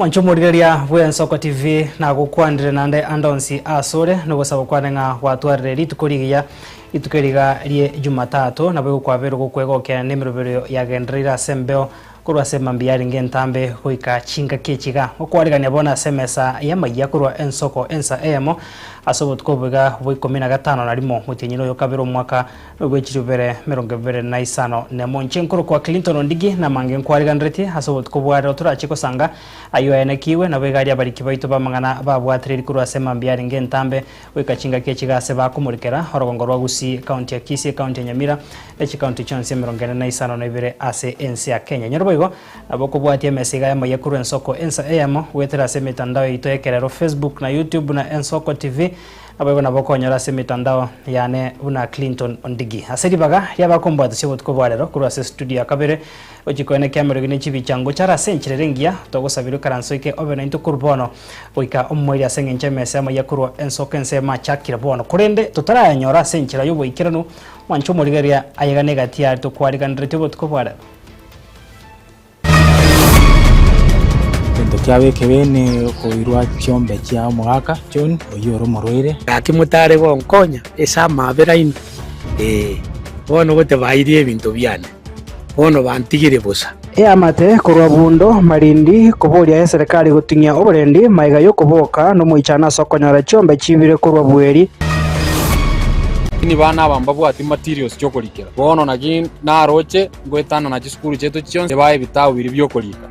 Mwancho morigereria bw'Ensoko TV nagokwanire nande ande onsi asore nogosaba kwane ng'a gwatwarire rituko rigiya rituko eriga rie Jumatatu nabo egokwaberwa gokwegokia nemeroberio yagendereire ase embeo Korwa ase emambia yarenge entambe goika chingaki echi iga, gokwaregania bono ase emesa y'amayia korwa ensoko ensa eyemo, ase obotuko obo iga bwa ikomi na gatano na rimo motienyi noyo kabere omwaka nobwe chirio bibere merongo ebere na isano nemo. Inche nkorokwa Clinton Ondigi, namange nkwareganeretie ase obotuko bwa rero torache gosanga ayio aenekigwe, nabo iga aria abariki baito b'amang'ana babwatereri korwa ase emambia yarenge entambe goika chingaki echi gase bakomorikera orogongo rwa Gusii, County ya Kisii, Ecounty ya Nyamira, ne chicounty chionsi emerongo ene na isano na ibere ase ense ya Kenya. Nyorboigo, nabo kobwatia emesa iga yamo yekorwa Ensoko Ensa Eyemo, goetera ase emetandao yaito y'ekerero, Facebook na YouTube buna Ensoko TV. Naboigo nabo okonyora ase emetandao yane buna Clinton Ondigi. Ase ribaga ri'abakombwatisia obotuko bwa rero korwa ase studio ya kabere, gochia koenekio amerogi ne chibicha ngocha are ase enchera ere engiya, togosabirwe karansa oike obe naintwe korwa bono goika omomoiri ase engencho emesa yamo ya korwa ensoko ensemo achakire bono, korende totarayanyora ase enchera y'oboikeranu, mwanche omorigereria ayegane egati y'aria tokwariganeretie obotuko bwa rero. Egento kiabo ekebe nekoirwa chiombe chia omogaka John oyio ore omorwaire. Gaki motare gonkonya ase amabera ime? Ee, bono goteba airie ebinto biane. bono bantigire bosa. Eamate korwa buundo marindi koboria eserekari goting'ia oborendi maega y'okoboka nomoichano ase okonyora chiombe chiibire korwa bweri. Lakini bana aba mbabwati materials chi'okorikera. Bono naki naroche ngoetana na chisukuru chiaito chionsi, ebae ebitabu biria bi'okorika.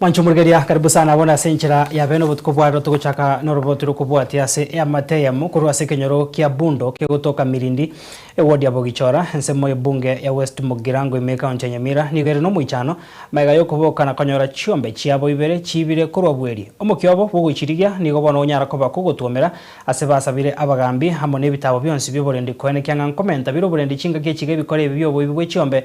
Mwancho morigeria, karibu sana abwo nase enchera ya bene obotuko bwa rero. Togochaka noroboti rokobwatia ase eamate eyemo korwa ase ekenyoro kia Bundo kegotoka Mirindi, ewodi ya Bogichora, ensemo y'ebunge ya West Mugirango ime ekaunti ya Nyamira nigo ere nomoichano magega yokoboka na konyora chiombe chiabo ibere chiibire korwa bweri. Omokia obo bw'ogochirigia nigo bono onyara koba kogotwomera ase basabire abagaambi amo nebitaabo bionsi bi'oborendi koene kiang'a nkomenta bire oborendi chingaki echiga ebikore ebi bi'oboibi bw'echiombe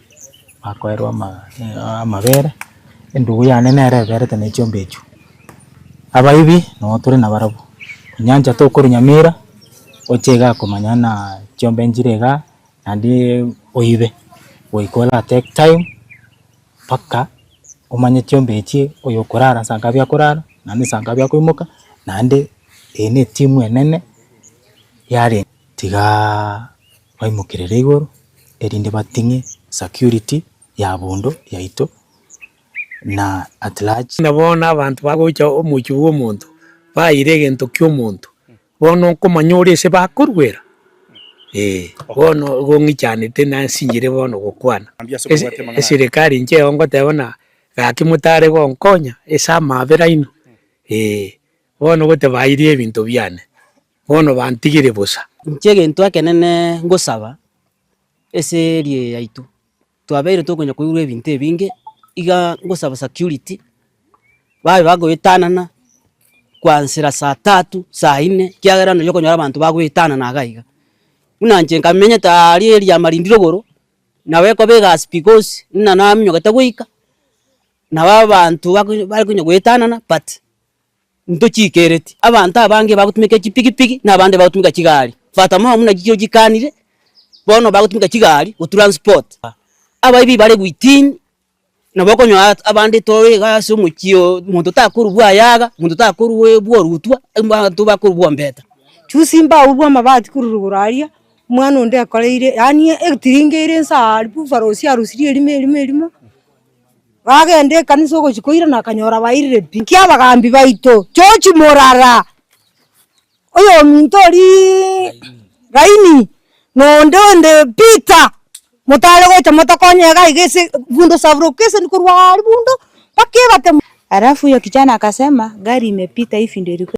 Bakoerwa ama- a- amabere, endugu yane nere eberete ne chiombe echio. Abaibi nabo tore nabarabwo, onyancha tokorwa nyamira, oche iga komanya ng'a chiombe nchire igaa, naende oibe, goika ora take time mpaka omanye chiombe echio, oyo okorara nsa ngapi akorara, naende nsa ngapi akoimoka, naende eye netimu enene yare tigaaa. Baimokerere igoro, erinde bating'e security ya bondo yaito na at large. Na bono abanto bagocha omochie bw'omonto, baayire egento ki'omonto, bono nkomanya ore ase bakorwera? Ee, bono igo ng'ichanete nasinchire bono gokwana. Eserekari inche eo ngoteba ng'a gaki motare gonkonya ase amaabera aino? Ee, bono goteba baayire ebinto biane. bono bantigire bosa. Inche egento ekenene ngosaba ase eria yaito, twabeire tokonya koigurwa ebinto ebinge, iga ngosaba security, babe bagoetanana kwansera saa tatu, saa ine, kiagera nonya okonyora abanto bagoetanana iga iga. Buna inche nka menyete aria eria marindiri igoro, nabo ekoba egasi because buna naminyokete goika, nabo abanto bakonya bare konya goetanana but. ntochiikereti. Abanto abange bagotumeka chipigipigi na abande bagotumeka chigari. Fata momo buna chichiro chikanire, bono bagotumeka chigari gotransport abaibi bare within, nabo okonyora abande tore iga ase omochie oo, omonto takorurwa ayaga, omonto takorurwa ebwa orutwa, abanto bakorurwa ombeta. Juzi mbaurwe amabati korwa rogoro aria, omwana onde akoreire yaani etiringa ere nsa aria, buffaloes arusirie erimo erimo erimo. Bagenda ekanisa ogochia koira nakanyora bairire pi. Naki abagambi baito George Murara, oyominto oriiiii Gaini, na onde onde Peter, motare gocha motokonye iga iga ase bundo saburoka esani korwa aria bundo mpaka ebatemo. Alafu huyo kijana akasema, gari imepita hii vindo ilikuwa.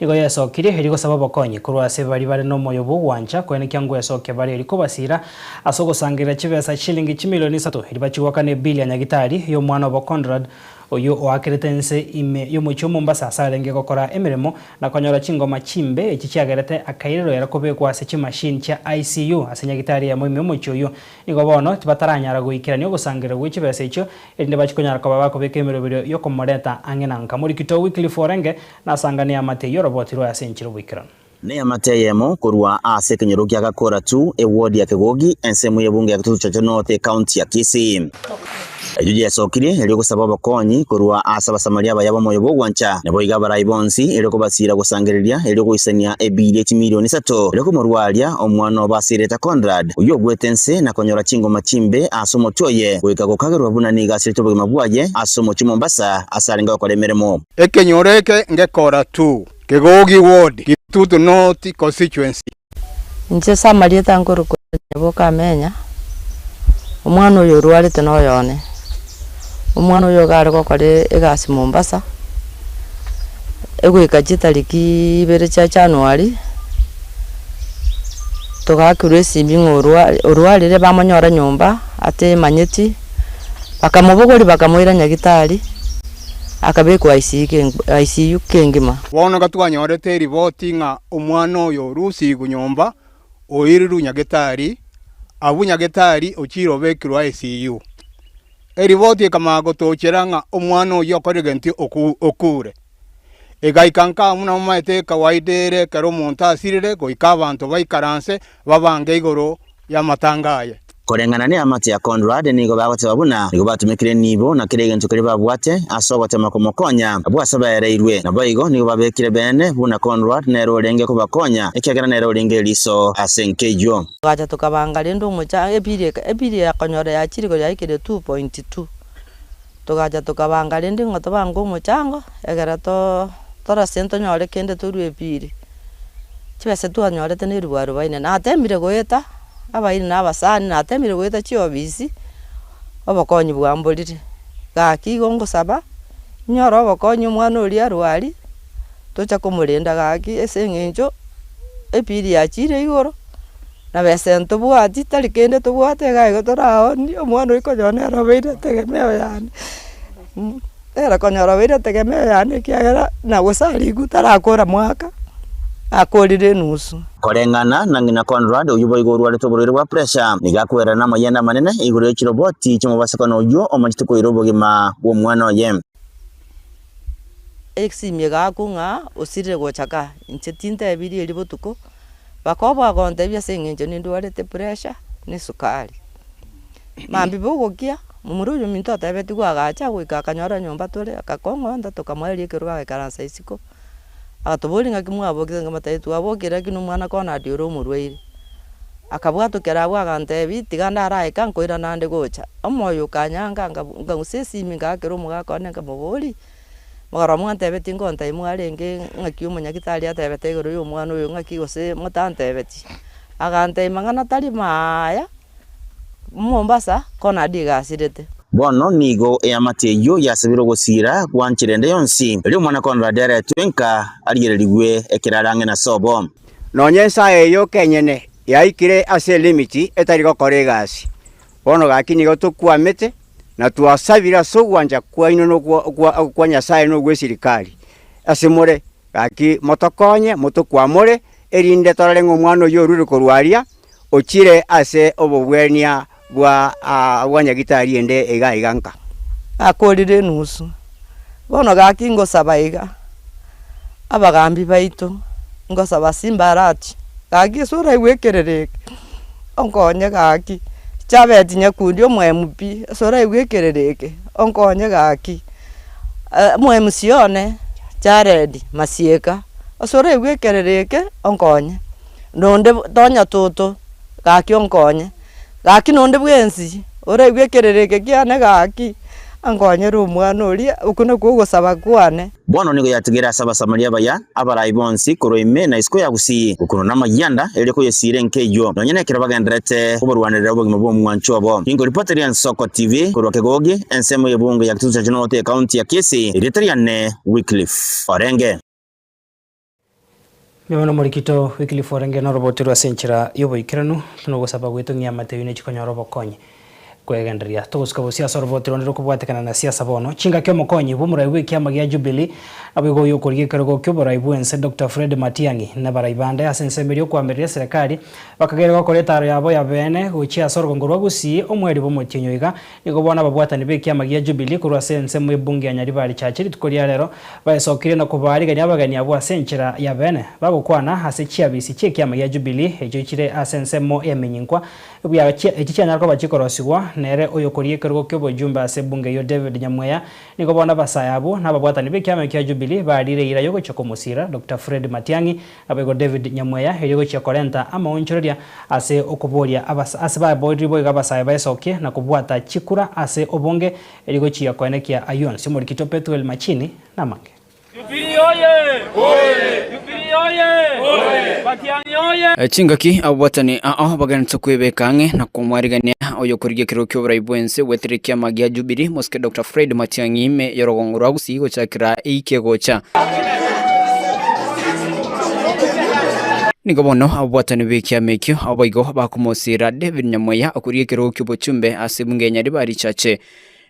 Nigo yaesokirie erio gosaba obokonyi korwa ase baria bare nomoyo bw'ogwancha koenekia ngwesokia bare erio kobasiira ase ogosangerera chibesa chichilingi chimilioni isato erio bachigwaka ne Billy Anyagitari, oy'omwana obo Conrad, oyio oakerete ense ime y'omochie o Mombasa ase arenge gokora emeremo na konyora chingoma chimbe echi chiagerete akairerwa era kobekwa ase chimachine chia ICU ase nyagitari eyemo ime y'omochie oyio nigo bono tibataranyara goikerania ogosangerera gwe chibesa echio erinde bache konyara koba bakobeka emeroberio y'okomoreta ang'e na nka Morikito Wycliffe Orenge Nasangane eamate eyio oroboti rwaye ase enchera oboikeranu. Na eamate eyemo korwa aase ekenyoro kia Gakoratu, ewodi ya Kegogi, ensemo y'ebunge ya Kitutu Chocho North, ekaunti ya Kisii. Eyio yesokire erio gosaba obokonyi korwa aase Abasamaria abaya b'omoyo bw'ogwancha, na boiga abarai bonsi erio kobasiira gosangereria erio goisania ebiiri echimilioni isato erio komorwaria omwana obo ase erieta Conrad, oyio ogwete ense na konyora chingoma chimbe aase omotwe oye, goika gokagerwa buna nigo asiretwe obogima bwaye aase omochie Mombasa ase arenge gokora emeremo. Ekenyoro eke ngekora tu, kegogi word, gitutu not constituency. Inche ase amarieta nkorokwa Nyaboka Amenya, omwana oyo orwarete noyo one. Omwana oyo iga are gokora egasi Mombasa, egoika chitariki ibere chia January, togakerwa esimi ng'a orwarire bamonyora nyomba atemanyeti, bakamobogoria bakamoira Nyagitari. akabekwa ICU kengima. Bono iga twanyorete eriboti ng'a omwana oyo rusiiku nyomba oirirwe Nyagetari, abwo Nyagetari ochire obekirwe ICU. Eriboti ekamanya gotochera ng'a omwana oyio okorire gento okuure. Egaika nkamu namomaete ekawaida ere ekero omonto asirire goika abanto baikaranse babange igoro y'amatanga aye. Koreng'ana neamate ya Conrad, nigo bagoteba buna nigo batumekire nibo na kera egento keria babwate ase ogotema komokonya. Abwo ase baereirwe naboigo nigo babekire beene buna Conrad nere orenge kobakonya ekiagera nere orenge eriso ase nkeyio. Togacha tokabanga rende omochie anga ebiiri eye, ebiiri eye akonyora yachire igoro ya ekere 2.2. Togacha tokabanga rende ng'a tobange omochango, egera torasie ntonyore kende torue ebiiri. Chibesa twanyorete ne ribwa arobaine. Natemire goeta abairi na abasani, natemire goeta chiofisi, obokonyi bwamborire. Gaki igo ngosaba, inyore obokonyi omwana oria arwari. tocha komorenda gaki ase eng'encho ebiiri yachiire igoro, na besa ntobwati tari kende tobwate iga igo toraoonie, omwana oyo konyora nere obeire etegemeo yane nere konyora obeire etegemeo yane ekiagera na gose arikwe tarakora mwaka, akorire enusu. Koreng'ana na ng'ina Conrad, oyio boigo orwarete oborwaire bwa puresha, nigo akoirana namayiende amanene igoro ye chiroboti chimobasakano oyio omachete koira obogima bw'omwana oye. Egesimie gaaku ng'a osirire gocha ka? Inche tintebirie erio botuko, baka obagontebia ase eng'encho nindwarete pressure ne esukari. Mambibe ogokia, momura oyo ominto otebetigwe agacha goika akanyora nyomba tore, akakong'onta tokamoeria ekerogo agaikaransa isiko. Agatoboria ng'aki mwabokire ng'a matayo twabokire lakini omwana kona aria ore omorwaire. Akabwatokera abwo agantebi tiga ndaraye ka nkoira nande gocha. Omoyo okanyanga nga nkagusia esimi ngakera omogaka one nkamobori, mogaro amo antebe tingontai mwarenge ng'aki omonyagitari atebete igoro ya omwana oyo ng'aki gose motantebeti. Agantebia mang'ana tari maaya. Mombasa konade igasirete. Bono nigo eamate eyio yasabire ogosiira gwanchire ende yonsi, erio Omwana Conrad aretwe nka arigererigwe ekerare ang'e na sobo. Nonya ensa eyio kenyene yaikire ase elimit etari gokora egasi. Bono gaki nigo tokwamete na twasabire ase ogwancha kwaino na okwa Nyasae na ogw'esirikari ase more, gaki motokonye motokwamore, erinde torare ng'a omwana oyio orure korwa aria Ochire ase obogwenia bwa agwanya gitari ende iga iga nka. Gakorire enusu. Bono gaki ngosaba iga, abagaambi baito, ngosaba ase imbarachi, gaki ase oraigwe ekerero eke, onkonye gaki, Chabeti Nyakundi omo MP, ase oraigwe ekerero eke, onkonye gaki, omo MC one, Jared Masieka, ase oraigwe ekerero eke, onkonye. nonde tonya toto, gaki onkonye, gaki nonde bwensi oraigwe ekerero eke kiane gaki, ankonyere omwana oria, okwo nakwo ogosaba kwane. Bono nigo yatigere ase Abasamaria baya abarai bonsi korwa ime na isiko ya gusii, gokunwa namayianda, erio koyesiira enka eyio, nonya nekero bagendererete kobarwanerera obogima bw'omwancho obo. Inko ripoti ria Nsoko TV korwa Kegogi, ensemo y'ebungo ya Kitutu Central North, ekaunti ya Kisii, erieta riane Wycliffe Orenge. Nyuma nomorikito Wycliffe orenge norobote rwe ase enchera y'oboikeranu, tinogosaba goetong'ia amateyo ne chikonyora obokonyi. Kwegenderia, togosuka bosio ase orobote ronde rokobwatekana na siasa bono. Chingaki omokonyi bw'omorai bw'ekiama gia Jubilee, naboigo oy'okorigia ekerogo ki'oborai bw'ense Doctor Fred Matiang'i, nabarai bande ase ensemo eria okoamerera eserekari, bakageria gokora etaro yabo yabeene gochia ase orogongo rwa Gusii, omweri bw'omotienyi oiga, Nigo bono ababwatani b'ekiama gia Jubilee korwa ase ensemo y'ebunge ya Nyaribari Church rituko ria rero baesokirie na kobaarigania abageni abwo ase enchera y'abeene. Bagokwana ase chiabiisi chi'ekiama gia Jubilee echio chire ase ensemo y'eminyinkwa ebuya echi chianyara koba chikorosigwa nere oyokoria ekerogo ki'obojumbe ase ebunge eyio David Nyamweya. Nigo bono abasae abwo na ababwatani b'ekiama ekio gia Jubilee baariire eira y'ogochia komosiira Doctor Fred Matiang'i Naboigo David nyamweya erio gochia korenta amaonchoreria ase okoboria abas ase babooriri boigo abasae baesokie na kobwata chikura ase obonge erio gochia koenekia ayio onsi omorikito Pethuel Machini namange. Jubilee oye! Oye! Jubilee oye! Oye! Matiang'i oye! Chingaki ababuatani ao bagenete kwebeka ang'e na komwarigania oyokorigia ekerero ki'oborai bw'ense gwetire ekiama gia Jubilee, Mosike Doctor Fred Matiang'i ime y'orogongo rwa Gusii gochakera eike gocha. Nigo bono ababwatani b'ekiama ekio abaigo bakomosira David Nyamoya okoria ekerogo ki'obochumbe ase ebunga ya Nyaribari richache.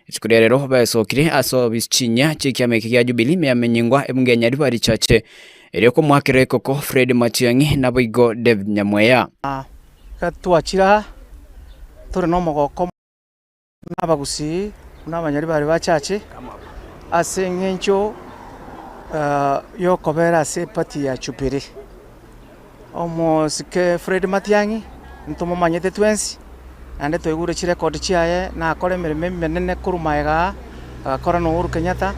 Rituko ria rero baesokire ase obisi chinyia chi'ekiama eke gia Jubilee meamenyingwa ebunga ya Nyaribari richache, erio komoakera ekoko Fred Matiang'i naboigo David Nyamoya. Ekero twachire aa, tore nomogooko omonge. Nabagusii buna abanyari bare bachache, ase engencho yokobera ase epati ya Chupiri. Omosike Fred Matiang'i ntomomanyete twensi, naende twaigure chirecord chiaye, nakora emeremo emenene korwa magega aa, agakora na Uhuru Kenyatta,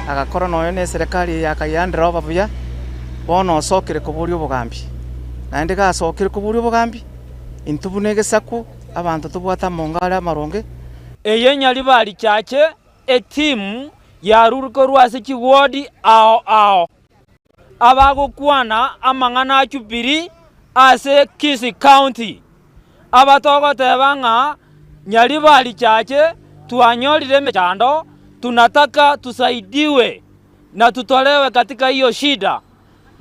agakora noyo ne eserekari eye ya Kayiha nderooba buya, bono osokire koboria obogambi. Naende iga asokire koboria obogambi, intwe buna egesaku. abanto tobwate amonga are amaronge. Eye nyaribari richache etimu y'arure korwa ase chigodi ao ao, abagokwana amang'ana a Jubilee ase Kisii County, aba togoteba ng'a nyaribari richache twanyorire emechando, tunataka tusaidiwe na tutolewe katika hiyo shida.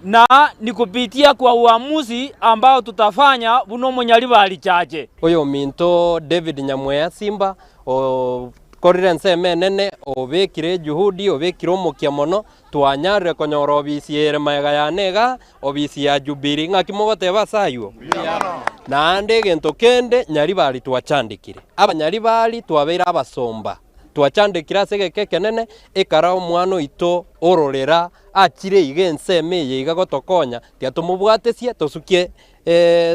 na ni kupitia kwa uamuzi ambao tutafanya buna omonyari ba richache. Oyominto David Nyamweya Simba okorire ensemo enene, obekire ejuhudi, obekire omokia mono, twanyarire konyora obisi ere magega yane iga, obisi ya Jubilee. Ng'aki mogoteba ase ayio? Naende egento kende Nyaribari twachandekire, Abanyaribari twabeire abasomba, twachandekire ase egeka ekenene, ekara omwana oito ororera Achire iga ensemo eye iga gotokonya, tiga tomobwatesie, tosukie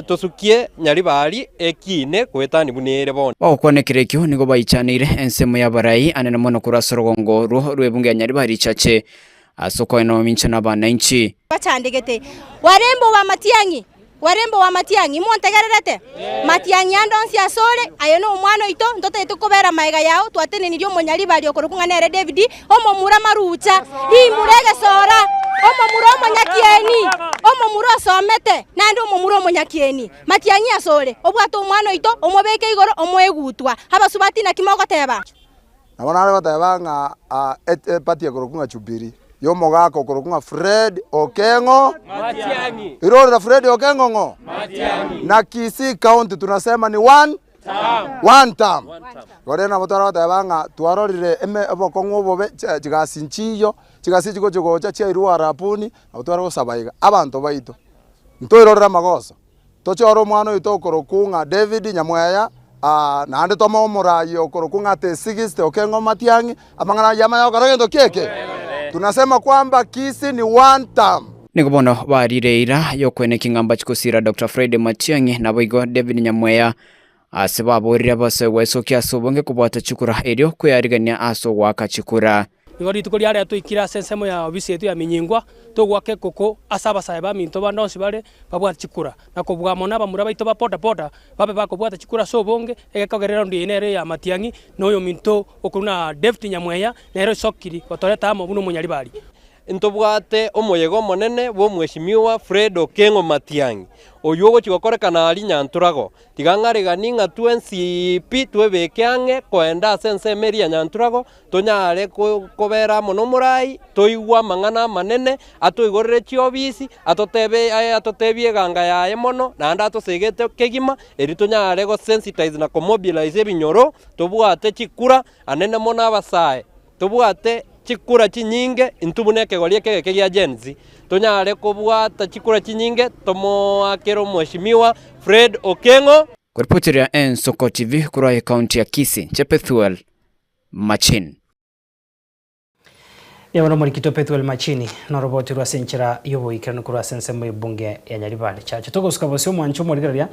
tosukie Nyaribari ekiine goetania buna ere bono. Bagokwana ekero ekio nigo baichaneire ensemo y'abarai anene mono korwa ase orogongo orwo rw'ebungo ya Nyaribari richache ase okoena omomincha na abanainchi. Bachandegete, Warembe obo amatiang'i! Kwere mboa amatiang'i, montegererete? Matiang'i ande onsi asore, aye nomwana oito, ntotaete kokobeera magega yao, twatenenirie omonyaribaria okorokwa ng'a nere David, omomura amarucha, rimura egesora, omomura omonyakieni, omomura osomete, naende omomura omonyakieni. Matiang'i asore, obwate omwana oito, omobeke igoro, omoe gutwa. Abasubati naki mogoteeba? Nabo nare goteba ng'a epati ekorokwa ng'a Jubili, y'omogaka okorokwa ng'a Fred Okeng'o Matiang'i. Irorera Fred Okeng'o ng'o? Matiang'i. Na Kisii County tunasema ni one term. One term. Igo rero nabo tware goteba ng'a twarorire eme obokong'u obobe chi- chigasi nchiiyo, chigasi echi chigochia gocha chiairwe Uarabuni, nabo tware gosaba iga, Abanto baito, ntoirorere amagoso. Tochiore omwana oito okorokwu ng'a David, nyamweya, aa, naende toma omoraai okorokwu ng'a Tesigiste okeng'u omatiang'i, amang'ana ayio amaya gokora gento ki'eke. Tunasema kwamba kisi ni one term. Nigo bono baarire eira y'okwenekia ng'a mbachie gosiira Doctor Friday Matiang'i, naboigo David nyamweya, Ase baboorire bose gwaisokia ase obonge kobwata chikura, erio kweyarigania ase ogoaka chikura. Nigo rituko riarenge toikire ase ensemo ya obisi yaito ya minyingwa, togoaka ekoko ase abasae baminto bande onsi bare babwate chikura, na kobua mono abamura baito ba boda boda babe bakobwata chikura ase obonge. Egekogerero onde eye nere Yaya Matiang'i, na oyominto okorwa na David Nyamweya nere osokiri gotoreta amo buna omonyaribari. Ntobwate omoyega omonene bw'Omweshimiwa Fred Okengo Matiang'i, oyio ogochia gokorekana aa Rinyantorago, Tiga ng'areganie ng'a twensi pi twebeke ang'e koenda ase ensemo eria ya Nyanturagho, tonyare kobera amo nomorai, toigwe amang'ana amanene, atoigorere chiobisi, atotebe aye atotebie eganga yaye mono, naende atosegete kegima, erio tonyare gosensitize na komobilize ebinyoro, tobwate chikura anene mono abasae. Tobwate chikura chinyinge intwe buna ekegori eke egeke gia Gen Z. Tonyare kobwata chikura chinyinge tomoakere Omweshimiwa Fred Okengo. Koripotiria Ensuko TV korwa ecounty ya Kisii, inche Pethuel Machini. Nigo nomorikito Pethuel Machini noroboti rwase enchera yoboikeranu korwa ase ensemo ye bunge ya Nyaribari. Chache togosuka bosio mwanche omorigereria.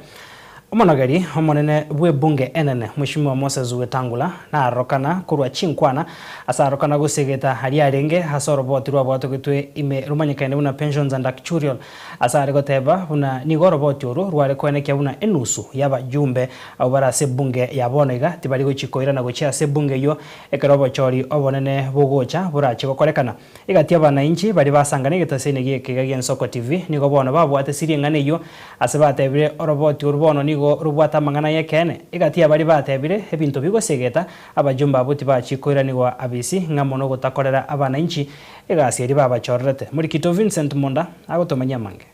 Omonogeri omonene bw'ebunge enene, Mweshimiwa Moses Wetangula, narorokana korwa chinkwana ase arokana gosiegeta aria arenge ase oroboti rwaboatogetwe ime romanyekaine buna Pensions and Acturial ase are goteba buna nigo oroboti oru rware koenekia buna enusu y'abajumbe abwo bare ase ebunge ya bono iga tibari gochia koirana gochia ase ebunge eyio ekero obochori obonene bogocha borache gokorekana. Egati y'abanainchi baria basangana egetosini gi'ekiga gi'ensoko TV nigo bono babwate siri eng'ana eyio, ase batebire oroboti oru bono nigo robwate amang'ana ay'ekeene. Egati y'abaria batebire ebinto bigosegeta abajumbe abwo tibachie koiranigwa abisi ng'a mono gotakorera abanainchi egasi eria babachorerete. Morikito Vincent Munda agotomanyia amange.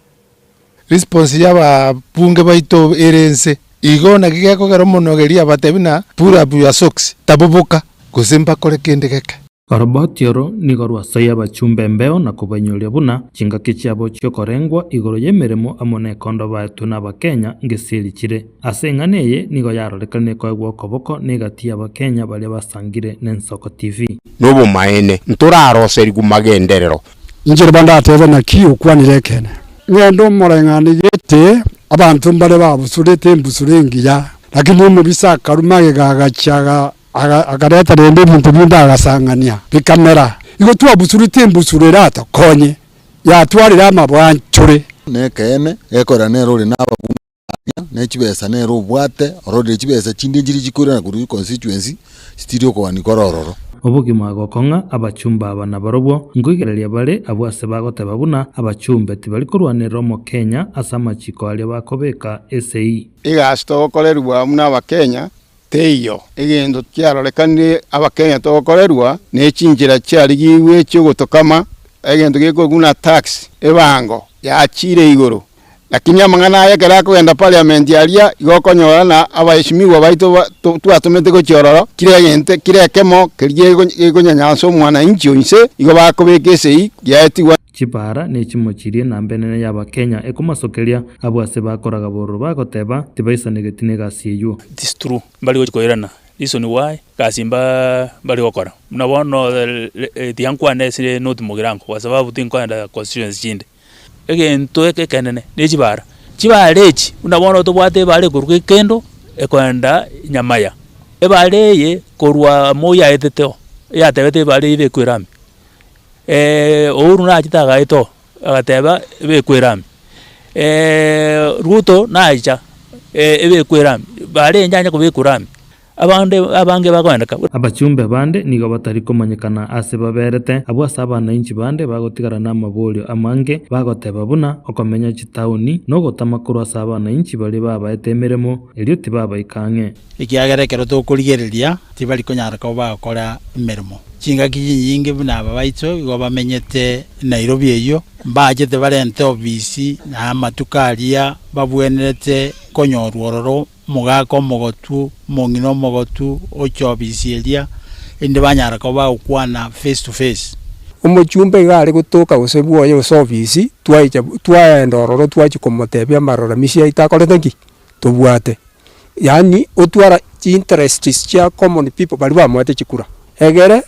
Response ya ba bunge baito ere nse igo naki gekogera omonogeria abatebi na pull up your socks, taboboka, gose mbakore kende geke. Oroboti oro nigo rwasoyia abachumba embeo na kobainyoria buna chingaki chiabo chi'okorengwa igoro y'emeremo amo nekondo baetwe n'Abakenya ngesiri chire. Ase eng'ana eye nigo yarorekanire koegwa okoboko negati y'Abakenya baria basangire n'Ensoko TV. Nobomaene, ntoraroserigwe magenderero. Inche riba ndatebe, Naki okwanire ekeene? Ng'ende omoreng'ane gete abanto mbare babusurete embusuro engiya, lakini omobisa akaruma agega agachia, Akareta rende ebinto binde agasang'ania, bikamera. Igo twabusuretie embusuro eratokonye, yatwarire amabwanchore. Nekeene, gekogera nere ore nababungo baria, ne chibesa nere obwate, ororire chibesa chinde nchiria chikoirana korwa econstituency, chitiiri okogania kore ororo. Obogima gokong'a abachumba aba nabarobwo, nkoigereria bare abwo ase bagoteba buna abachumbe tibari korwanerera omokenya ase amachiko aria bakobeka esegi. Iga ase togokorerigwa buna abakenya, Teiyo egento kiarorekanire abakenya togokorerwa ne chinchera chiarigigwe chi'ogotokama, egento gekorwa buna tax, ebango, yaachire igoro. Lakini amang'ana aya ekero akogenda parliament aria, igo okonyora na abaesimigwa baito twatomete gochia ororo, kira egento, kira ekemo keria gekonyanyansa omwanainchi o inse, igo bakobeka esegi yaetigwa. Chipara nechimochirie na mbenene ya abakenya ekomasokeria abwo ase bakoraga bororo bagoteba tibaisanegeti negasi eywo. It is true mbari gochi koirana reason why gasi mba mbari gokora buna bono tiyankwana esire not mogirango kwa sababu tinkoenda constituency chinde egento eke ekenene ne chibara chibara echi buna bono tobwate ebara ekorwa gekendo ekoenda nyamaya ebara eye korwa moya etete oo eyatebete ebara eye ebekwera ime. Uhuru nachete agaeta oo, agateba ebekwera ime, Ruto nacha ebekwera ime, barenge anye kobekwa ime, abande abange bakoenda ka. Abachumbe bande nigo batari komanyekana aase baberete, abwo ase abanainchi bande bagotigara namaborio amange, bagoteba buna okomenya chitaoni, nogotama korwa ase abanainchi baria babaete emeremo, erio tibabaika ang'e. Ekiagera ekero tokorigereria tibari konyara koba bagokora emeremo. Chingaki chinyinge buna aba baicho igo bamenyete Nairobi eyio, mbaachete barente ofisi na amatuko aria babwenerete konyorwa ororo, omogaka omogotu, omong'ina omogotu oche ofisi eria, erinde banyara koba bagokwana face to face. Omochumba iga are gotoka gose bwoye gose ofisi, twaecha twaenda ororo twachia komotebia amarora misia yaito akorete ki? tobwate, yaani otwara chi interests chia common people baria bamoete chikura, egere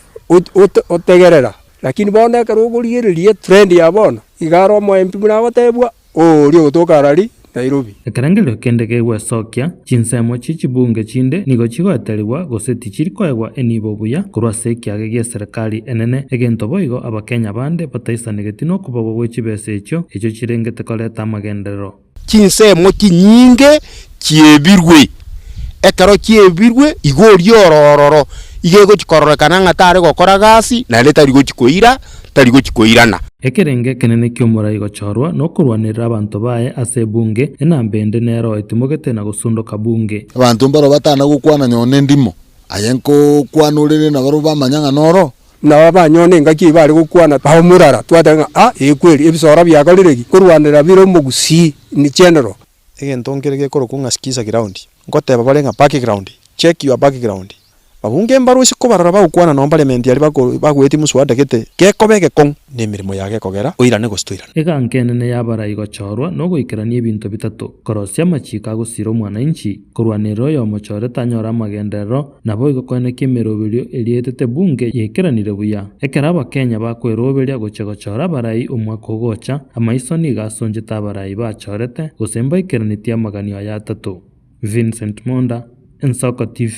otegerera, lakini bono ekero okorigereria etrend ya bono, iga are omo MP buna agotebwa oo oria ogotoka arari Nairobi. Ekerengerio kende kegwesokia, Chinsemo chie chibunge chinde nigo chigoeterigwa gose tichiri koegwa enibo buya korwa ase ekiage gie serikali enene, egento boigo Abakenya bande bataisanegeti nokobogwa gwe chibesa echio, echio chirengete koreta amagenderero. Chinsemo chinyinge chiebirwe. Ekero chiebirwe, igo oria ore ororo, igo egochia kororekana ng'a tare gokora gasi, naende tari gochia koira, tari gochia koirana. Ekerengo ekenene ki'omorai gochorwa nokorwanerera abanto baye ase ebunge, enamba ende nero etimogete na gosundoka bunge. Abanto mbaro batana gokwana nyoo nendimo, aye nkokwana ore nenabaro bamanya ng'a noro, Nabo abanyona engaki eyio bare gokwana ao murara, twateba ng'a, A! Ee kweri, ebisoora biakorire ki? Korwanera bire omogusii, nichenero. Egento nkere gekorokwa ng'a Skiza Ground, ngoteeba bare ng'a Back Ground, check your back ground. Babunge mbarwa ase kobarora bagokwana nao Parliament aria bagoetie muswada gete gekoba egekong'u, na emeremo yago ekogera, oirane gose toirane. Eganka enene y'abarai gochorwa nogoikerania ebinto bitato, korosia amachiiko agosira omwananchi, Korwa nere oyomochore tanyore amagenderero, naboigo koenekia emeroberio eria etete Bunge yaikeranire buya. Ekero Abakenya bakweroberia gochia gochora abarai omwaka ogocha, amaiso nigo asonchete abarai bachorete gose mbaikeranetie amaganio aya atato. Vincent Monda, Ensoko TV.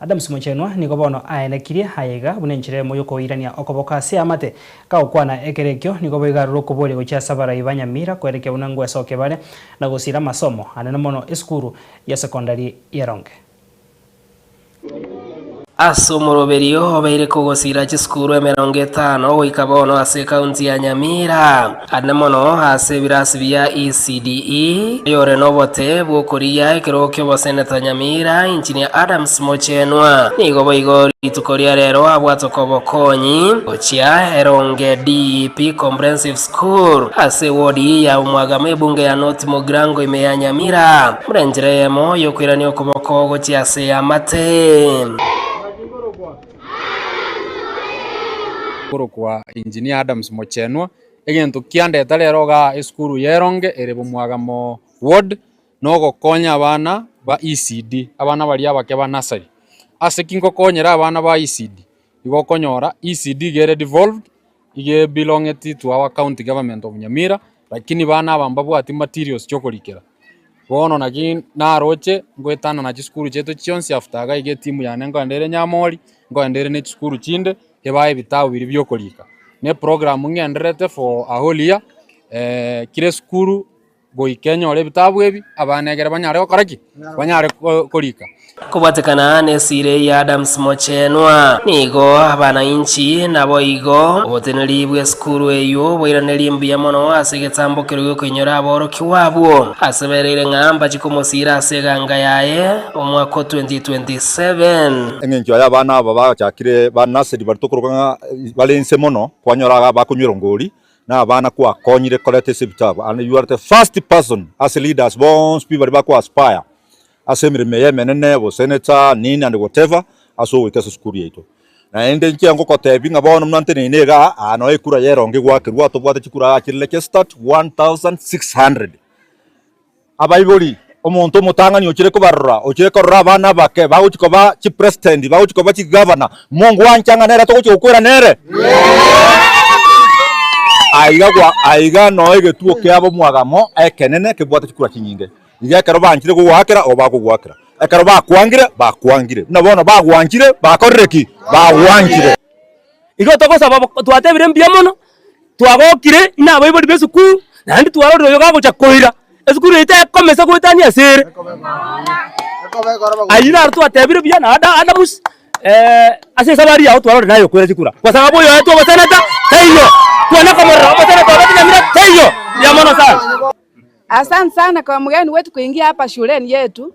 Adams Mochenwa nigo bono aenekirie aye iga buna enchera eyemo y'okoirania okoboko ase amate. Kagokwana ekero ekio, nigo boigo arure okoboria gochia ase abarai ba Nyamira koerekia buna ngwesoke bare na gosiira amasomo, anene mono esukuru ya sekondari ya Ronge. Ase omoroberio obeire kogosiira chisukuru emerongo etano goika bono ase ekaunti ya Nyamira. Ane mono ase ebirasi bia ECDE, oyore nobote bw'okorigia ekerogo ki'oboseneta nyamira, Engineer Adams Mochenwa, nigo boigo rituko ria rero abwatwe kobokonyi gochia Eronge DEP Comprehensive School ase ewodi ya Omwagama ebunge ya North Mugirango ime ya Nyamira buna enchera eyemo y'okoirania okoboko gochia ase y'amate. Nkorokwa Engineer Adams Mochenwa, egento kiandete rero iga esukuru ya Eronge ere Bomwagamo Ward na ogokonya abana ba ECD, abana baria abake ba nursery. Ase ki ngokonyera abana ba ECD? Igo okonyora ECD iga ere devolved, Iga belonged to our county government of Nyamira lakini bana aba mbabwati materials chi'okorikera. Bono naki naroche ngoetanana chisukuru chiaito chionsi after iga iga etimu yane nkoenda ere Nyamori, nkoenda ere nechisukuru chinde ebae ebitabu biria bi'okorika. Neprogramu ng'endererete for a whole year kira esukuru goika enyore ebitabu ebi, abana egere banyare gokora ki? Banyare ko- korika. Kobwatekana n'esire ya Adams Mochenwa, nigo abananchi naboigo oboteneri bw'esukuru eyio boiranerie mbuya mono ase egetambo keria gi'okoinyora aborokigwa abwo ase bereire ng'a mbachie komosiira ase eganga yaye omwaka o 2027. Eng'encho y'abana aba bagochakire ba nursery baria tokoroka ng'a bare inse mono, kwanyora iga bakonywera ngori, na abana kwakonyire koreta ase ebitabu and you are the first person ase leaders bonsi pi baria bako aspire ase emeremo eye emenene obo senator nini and whatever ase ogoika ase esukuru yaito naende inche ngokotebi ng'a bono muna nteneine iga aa noe ekura eye erongo egwakerwa tobwate chikura aa chire registered 1600. Abaibori, omonto omotang'ani ochire kobarora, ochire korora abana abake bagochia koba chipresitendi, bagochia koba chigavana, mongwancha ng'a nere togochia gokwera nere? Aiga gwa- aiga noo egetuo kiabo mwagamo ekenene kebwate chikura chinyinge. Iga ekero banchire kogoakera igo bakogoakera, ekero bakwangire bakwangire, buna bono bagwanchire bakorire ki? Bagwanchire. Igo togosaba bo- twatebire mbuya mono, Twagokire ng'a abaibori b'esukuru naende twarorire oyo gagocha koira, esukuru eye tekome ase goetania ase ere. Ayio naro twatebire buya na Ada- Adams ase esabari yabo twarorire naye okoira chikura, gose abe oyoetwe omoseneta taiyo, kwane komorora omoseneta obe Nyamira taiyo, mbuya mono sana. Asante sana kwa mgeni wetu kuingia hapa shuleni yetu.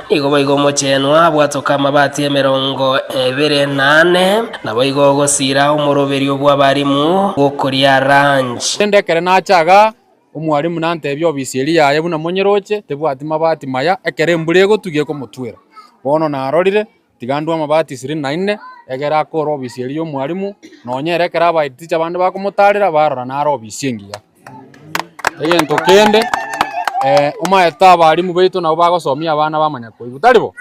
Nigo boigo omochenwa abwatoke amabati emerongo ebere na ane, naboigo ogosiira omoroberio bw'abarimu bw'okoria lunch. Korende ekero nacha iga, omwarimu nantebia obisi eria yaye buna monyeroche, tebwati mabati maya, ekero embura egotugia ekomotwera. Bono narorire, Tiga ndue amabati ishirini na ine, egere ake ore obisi eria y'omwarimu, nonya ere ekero abaetie ticha abande bakomotaarera, barora nare obisi engiya. Egento kende, eh, omanyete abarimu baito nabo bagosomia abana bamanya koigwa, tari bo?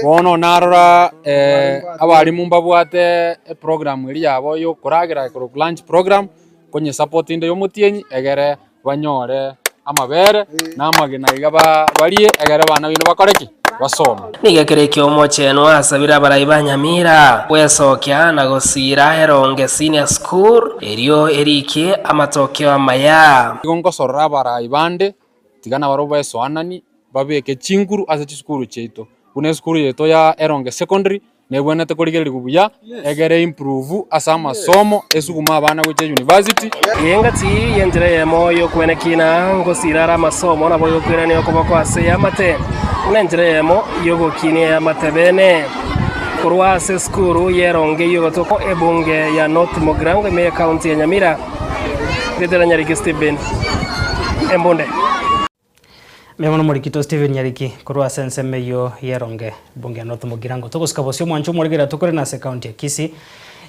Bono narora eh, abarimu mbabwate eprogramu eria yabo y'okoragera ekorokwa lunch program, nkonyesapotinda y'omotienyi egere. banyore amabere na amagena iga ba- barie, egere abana baino bakore ki? Basome. Nigo ekero ekio omochenu asabire abarai ba Nyamira gwesokia na gosiira Eronge Senior School erio erikie amatokeo amaya. Igo ngosorora abarai bande, tiga nabarabwo baesoananie, babeke chinguru ase chisukuru chiaito, buna esukuru yaito ya Eronge Secondary, nebwenerete korigererigwa buya, egere e improve ase amasomo, esugume abana gochia university, Engaki y'enchera eyemo y'okwenekina ngosira are amasomo nabo y'okwerania okoboko ase eamate, buna enchera eyemo y'ogokinia eamate bene. Korwa ase esukuru y'eronge y'ogotokwa ebunge ya North Mogrango ime y'ekaunti ya Nyamira, Ritera Nyariki Stephen, Embunde. Mbuya mono Omorikito Stephen Nyariki korwa ase ensemo eyio ye Ronge Bunge North Mugirango. Togosika bosio omwancho omorege riato korende ase ekaunti ya Kisii,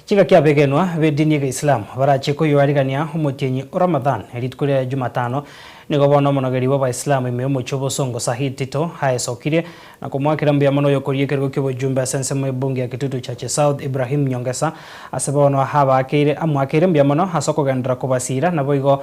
chingaki abegenwa bedini ege Islamu barachie koyoarigania omotienyi o Ramadhan rituko ria Jumatano nigo bono omonogeri bw'Abaislam ime omochie obosongo Sahid Tito aesokirie na komoakera mbuya mono oyokoria ekerogo ki'obojumbe ase ensemo y'ebunge ya Kitutu Church South Ibrahim Nyongesa ase bono abakeire amoakeire mbuya mono ase okogenderera kobasiira naboigo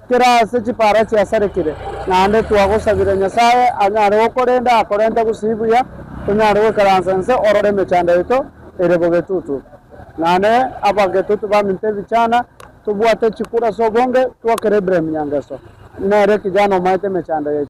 Kera ase chipaara chiasarekire, naende twagosabire Nyasae anyare gokorenda, akorente gusii buya, tonyare goikaransa inse ororo emechando yaito ere bogetutu, naende abagetutu baminto ebichana, tobwate chikura ase obonge, twokere Ibrahim nyangeso, nere kijana omaete emechando yaito.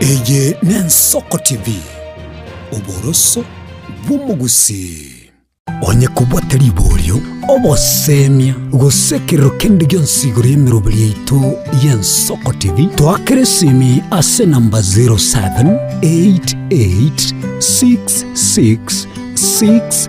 Eye n'Ensoko TV, oboroso bw'omogusii. Onye kobua tari borio, oboseemia, gose ekerero kende gionsi igoro y'emeroberi yaito y'Ensoko TV, toakera esimi ase enamba 07886666.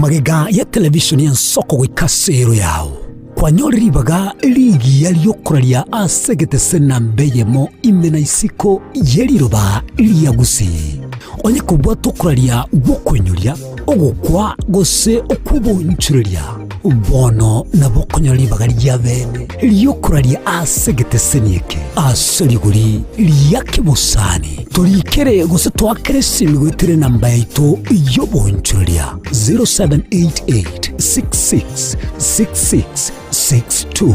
Magega ya televishoni ensoko goika ase ero yao. Kwanyore ribaga rigiya riokoraria ase egetese na mbe eyemo ime na isiko ye riroba ria gusii. Onye kobwate okoraria gw'okoinyoria, ogokwa, gose okw'obonchoreria, Bono nabo okonyora ribaga ri'abene ri'okoraria ase egeteseni eke, ase rigori ria kebosani, torikere gose toakere esemigo etire enamba yaito y'obonchoreria, 0788666662.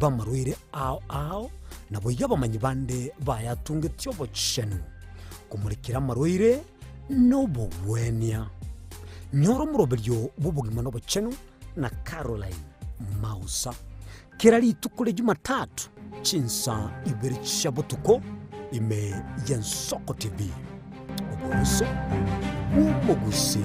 Bamarwaire ao ao, naboigo abamanyi bande bayatungetie obochenu, komorekera amarwaire nobogwenia. Nyora omoroberio bw'obogima nobochenu na Caroline Mausa. Kera rituko ria Jumatatu chinsa ibere chia botuko ime ya Nsoko TV. Oboruso bw'omogusi.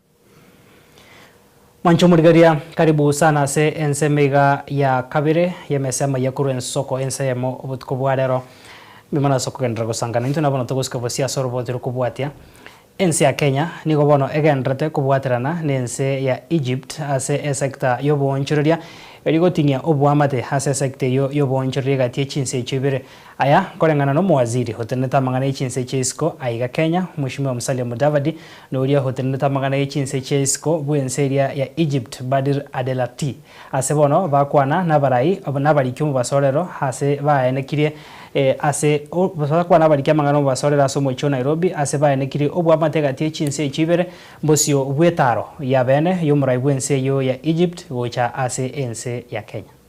Mwancha omorigaria, karibu sana ase ensemo iga ya kabere y'emesemo ya korwa ensoko ensa eyemo obotuko bwa rero. Mbimo nase okogenderera gosangana intwe nabono togosika bosio ase orobooto rokobwatia. Ense ya Kenya nigo bono egendererete kobwaterana nense ya Egypt ase esecta y'oboonchoreria, erio goting'ia oboamate ase esecta eyio y'oboonchoreria egati y'echinse echio ibere. Aya nkoreng'ana n'omowaziri otenenete amang'ana 'echinsa echia isiko aiga Kenya, Mweshimiwa Musalia Mudavadi, na oria otenenete amang'ana 'echinsa echia isiko bw'ense eria ya Egypt, Badir Adelakti. Ase bono bakwana nabarai nabariki omobasorero ase baenekirie ase bakwana nabariki amang'ana omobasorero ase omochie o Nairobi ase baenekirie oboamate egati y'echinsa echio ibere bosio bw'etaro yabeene y'omorai bw'ense eyio ya Egypt gocha ase ense ya Kenya.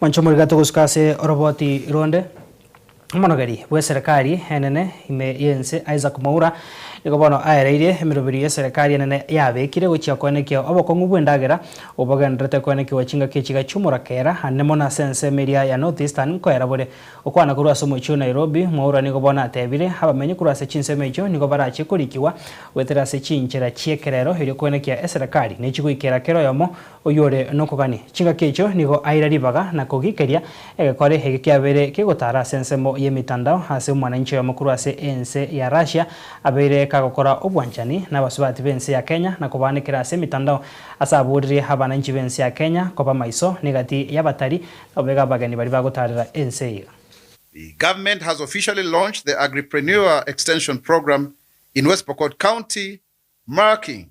Mwanche omorika togosuka ase oroboti ronde. Omonogeri bw'eserekari enene ime y'ense Isaac Mwaura nigo bono aereirie emeroberio y'eserekari enene yabekire gochia koenekia obokong'u bw'endagera obogendererete koenekiwa chingaki echiga chi'omorakera ande mono ase ensemo eria ya North Eastern nkoerabore. Okwana korwa ase omochie o Nairobi, Mwaura nigo bono atebire abamenyi korwa ase chinsemo echio nigo barache korikigwa goetera ase chinchera chi'ekerero erio koenekia eserekari nechigoikera kera oyomo Oyore nokogania chingaki echio nigo aira ribaga na kogikeria egekore ege kiabeire kegotara ase ensemo y'emetandao ase omwananchi oyomo korwa ase ense ya Russia abeire kagokora obwanchani nabasubati b'ense ya Kenya na kobaanekera ase emetandao ase aboririe abananchi b'ense ya Kenya koba maiso negati y'abatari nobega abageni baria bagotarera ense eye. The government has officially launched the Agripreneur Extension Programme in West Pokot County, marking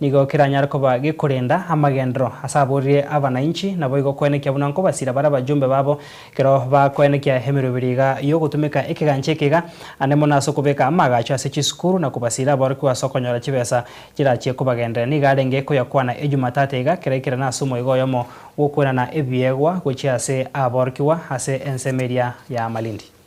Nigo keranyare koba gekorenda amagenderero ase aborire abanainchi, naboigo koenekia buna nkobasira bare abajumbe babo ekero bakoenekia emerwa ebere iga y'ogotumeka ekegancha eke iga, ande mono ase okobeka amaagacho ase chisukuru na kobasira aborokigwa ase okonyora chibesa chirachie kobagenderera. Nigo arenge koyakwana Ejumatata iga kera ekera na ase omoiga oyomo gw'okwenana ebiegwa gochia ase aborokigwa ase ensemo eria ya Malindi.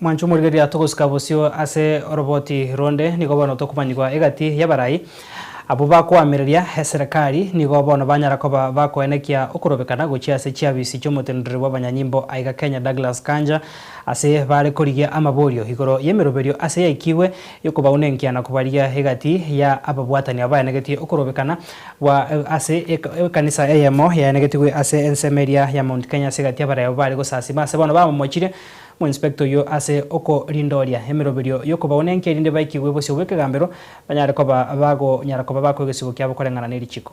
Mwanche omorigereria togosika bosio ase oroboti ronde, nigo bono tokomanyigwa egati y'abarai. Abwo bakoamereria eserekari nigo bono banyara koba bakoenekia okorobekana gochia ase chiafisi chi'omotenenreri bw'abanyanyimbo aiga Kenya Douglas Kanja ase bare korigia amaborio igoro y'emeroberio ase yaikigwe Ekobaou nenkiana kobaria egati ya ababwatani aba baenegetie okorobekana gwa ase ekanisa eyemo yaenegetigwe ase ensemo eria ya Mount Kenya ase egati y'abareo bare gosasima ase bono bamomochire omoinspector oyio ase okorindooria emeroberio y'okobaou nenki erinde baikigwe bosio bw'ekegambero banyare koba bagonyara koba bakoa egesibo kiabo koreng'ana nerichiko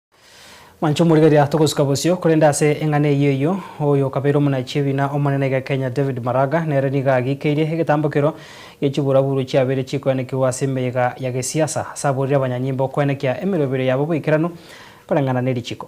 Mwancha omorigeria, togosuka bosio, korende ase eng'ana eyio eyio, oyo okabeire omonachi ebina Omonene iga Kenya David Maraga nere nigo agiikeire egetambo kero gie chiburaburu chiabeire chikoenekigwa ase emeyega ya gesiasa, ase aborire abanyanyimbo okoenekia emeroberio yabo boikeranu koreng'ana ne richiko.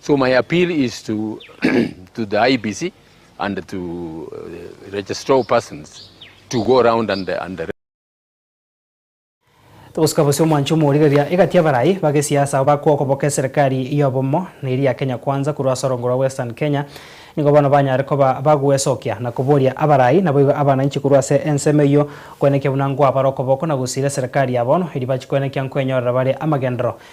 So my appeal is to to the IBC and to uh, registrar of persons to go around and, and Togosika bosio omwancho omorigereria egati y'abarai bagesiasa aba kogoboka eserekari y'obomo na eria ya Kenya Kwanza korwa ase orongo rwa Western Kenya nigo bono banyare koba bagwesokia na koboria abarai naboigo abananchi korwa ase ensemo eyio kwenekia buna nkwabare okoboko na gosiira eserekari ya bono eri bachi kwenekia nkwenyorera bare amagenderero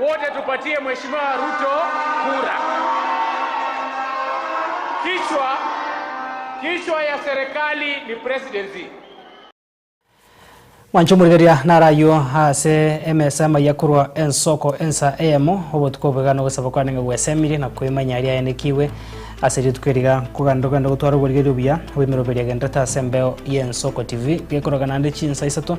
Wote tupatie mheshimiwa Ruto kura. Kichwa kichwa ya serikali ni presidency. Mwancha omorigereria naro ayio ase emesa y'amaiga korwa ensoko ensa eyemo, obotuko obwegano ogosaaba kwane ng'a gweseemirie, na koimanya riayanekigwe ase rituko eri iga. Kogenda tokogenda gotwara oborigereria obuya, oboimerwa obo biriagenderete ase embeo y'ensoko TV, gekorogana naende chinsa isato,